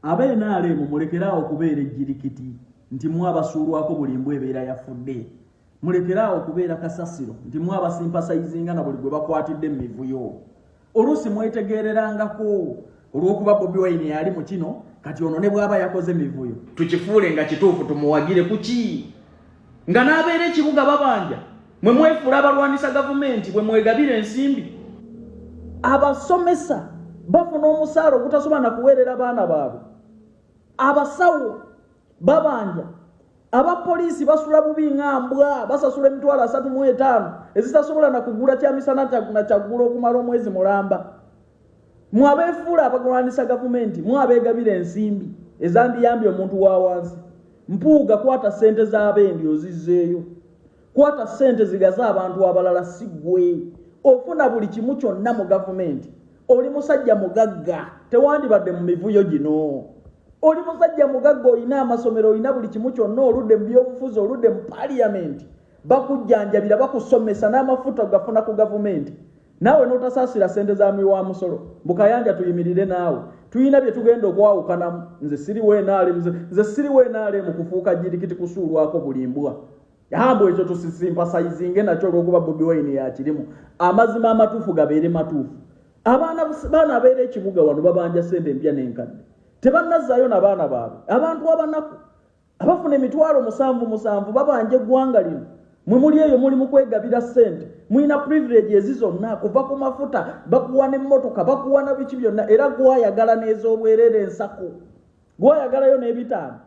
Abe NRM mulekeraawo okubeera ejjirikiti nti mwe abasuulwako buli mbwa ebeera yafudde. Mulekeraawo okubeera kasasiro nti mwe abasimpasayizinga na buli gwe bakwatidde mu mivuyo. Oluusi mwetegeererangako olw'okuba Bobi Wine yali mu kino kati ono ne bw'aba yakoze mivuyo. Tukifuule nga kituufu tumuwagire ku ki? nga n'abeera ekibuga babanja mwe mwefuula abalwanyisa gavumenti bwe mwegabira ensimbi abasomesa bafuna omusaala ogutasobola na kuweerera baana baabwe abasawo babanja abapoliisi basula bubi nga mbwa basasula emitwalo asatu mu etaano ezitasobola na kugula kyamisana na kyaggulo okumala omwezi mulamba mwabeefuula abagwanisa gavumenti mwabeegabira ensimbi ezandiyambye omuntu wa wansi mpuuga kwata ssente z'abendi ozizzeeyo kwata ssente zigaze abantu abalala si gwe ofuna buli kimu kyonna mu gavumenti oli musajja mugagga tewandibadde mu mivuyo gino oli musajja mugagga olina amasomero olina buli kimu kyonna oludde mu byobufuzi oludde mu paliyamenti bakujjanjabira bakusomesa n'amafuta ogafuna ku gavumenti naawe n'otasaasira ssente za mwi wa musolo bukayanja tuyimirire naawe tulina bye tugenda okwawukanamu nze siriwo enaale nze siriwo enaale mu kufuuka jirikiti kusuulwako buli mbwa yambo ekyo tusisimpasayizinge nakyo olwokuba bobi wayini yakirimu amazima amatuufu gabeere matuufu abaana baana abeera ekibuga wano babanja ssente empya n'enkadde tebannazaayo na baana baabwe abantu abanaku abafuna emitwalo musanvu musanvu babanja eggwanga lino mwe muli eyo muli mukwegabira sente mulina privilege ezi zonna kuva ku mafuta bakuwa nemmotoka bakuwa na biki byonna era gwayagala n'ez'obwerere ensaku gwayagalayo n'ebitaano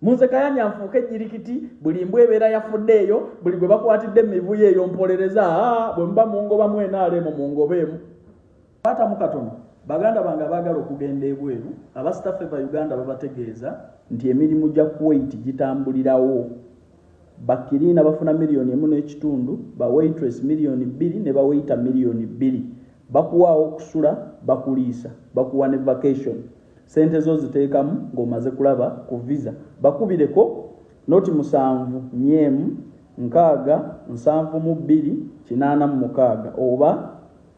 munze kayanya nfuuka ejjirikiti buli mbwa ebeera yafudde eyo buli gwe bakwatidde mu mivuyo eyo mpolereza bwe muba mungobamu enaaleemu mungobeemu Kwatamu katono baganda bange abaagala okugenda ebweru abasitaffe ba uganda babategeeza nti emirimu gya kuwait gitambulirawo bakiriina bafuna miliyoni emu n'ekitundu ba waitress miliyoni bbiri ne bawaita miliyoni bbiri bakuwaawo okusula bakuliisa bakuwa ne vacation sente zo ziteekamu ng'omaze kulaba ku visa bakubireko noti musanvu nyeemu nkaaga nsanvu mu bbiri kinaana mu mukaaga oba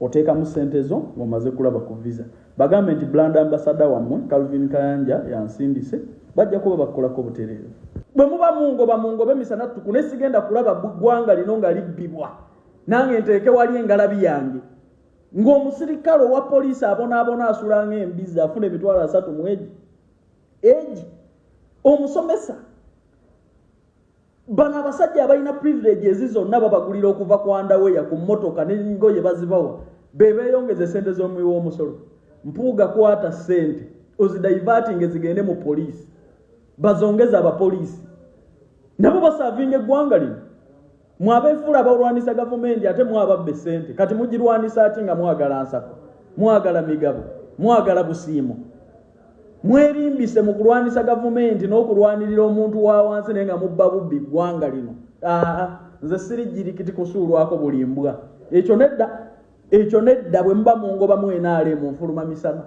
oteekamu ssente zo ng'omaze kulaba ku visa bagambe nti bland ambasada wammwe calvin kayanja yansindise bajja kuba bakukolako butereevu bwe muba mungoba mungoba emisana ttuku naye sigenda kulaba ggwanga lino nga libbibwa nange nteeke wali engalabi yange ng'omusirikale owa poliisi abonaabona asula ng'embizi afuna emitwalo asatu mu egi egi omusomesa bano abasajja abalina privilege ezi zonna babagulira okuva ku andaweya ku mmotoka nengoye bazibawa bebeeyongeza esente z'omuwi w'omusolo mpuuga kwata sente ozidaivatinga ezigende mu poliisi bazongeza abapoliisi nabo basavinga eggwanga lino mwabeefuula abalwanisa gavumenti ate mwababba esente kati mugirwanisa ati nga mwagala nsako mwagala migabo mwagala busiimo mwerimbise mu kulwanisa gavumenti n'okulwanirira omuntu wa wansi naye nga mubba bubbi ggwanga lino aa nze sirigirikiti kusuulwako buli mbwa ekyo nedda ekyo nedda bwe muba mungoba mwenaale mu nfuluma misana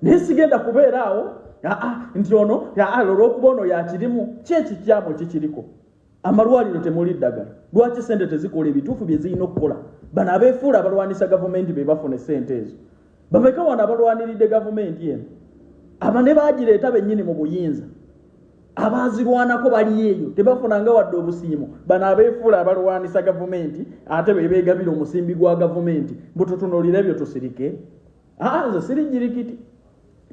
naye sigenda kubeera awo aa nti ono aa lolwokuba ono yakirimu kyekikyamu kikiriko amalwaliro temuli ddagala lwaki sente tezikola ebituufu bye zirina okukola bano abeefuula abalwanisa gavumenti be bafuna esente ezo bameka wano abalwaniridde gavumenti eno aba ne bagireeta bennyini mu buyinza abaazirwanako bali eyo tebafunanga wadde obusiimo bano abeefuula abalwanisa gavumenti ate be beegabira omusimbi gwa gavumenti mbututunulire ebyo tusirike aa nze siri nyirikiti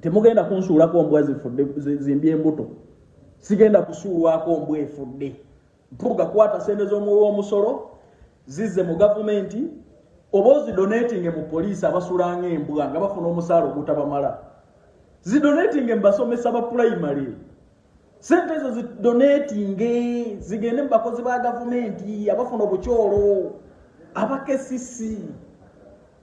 temugenda kunsuulako mbwa zifudde zimbye embuto sigenda kusuulwako mbwa efudde mpuga kwata sente z'omuwi w'omusolo zizze mu gavumenti oba ozidonatinge mu poliisi abasulanga embwa nga bafuna omusaala ogutabamala zidonatinge mu basomesa ba pulayimale sente ezo zidonatinge zigende mu bakozi ba gavumenti abafuna obukyolo abakesisi